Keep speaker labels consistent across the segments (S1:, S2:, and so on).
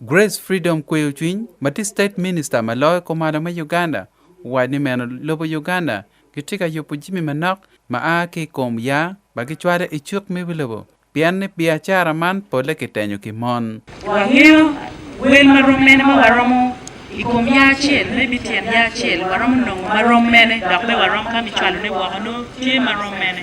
S1: Grace Freedom Kweyocwiny ma tye State Minister ma loyo kumalo me Uganda owaco ni meno lobo Uganda gitye ka yubo jami manok ma a ki i kom yaa ma gicwalo i cuk me wi lobo pien ni biacara man polle kitenyo ki mon. Wangeyo
S2: wel ma rom mene ma waromo i kom yaa acel me bit tyen yaa acel waromo nongo ma rom mene dok bene waromo ka me cwalone woko nongo tye ma rom mene.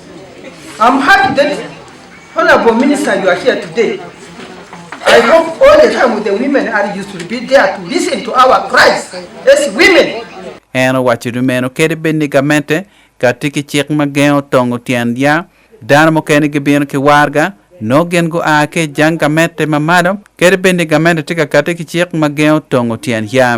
S3: I'm happy that Honourable Minister you are here today. I hope all the time with the women are you should be there to listen to our cries as women. En owaco
S1: ni meno kadi bed ni gamente ka tye ki cik ma gengo tongo tyen ya, dano mukene gibino ki warga nongo gin gua ki i jang gamente ma malo kadi bed ni gamente tye ka kati ki cik ma gengo tongo tyen ya.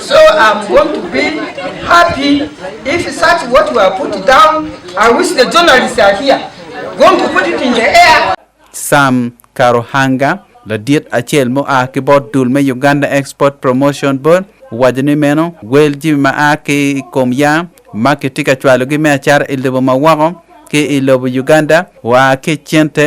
S3: So I'm going to be happy if such what you have put down, I wish the journalists are here, going to put it in the air. Sam
S1: Karuhanga, ladit acel ma oa ki bot dul me Uganda Export Promotion Board, owaco ni meno wel jami ma a ki i kom yaa ma kitye ka cwalogi me acata i lobo ma woko ki i lobo Uganda oa ki i cente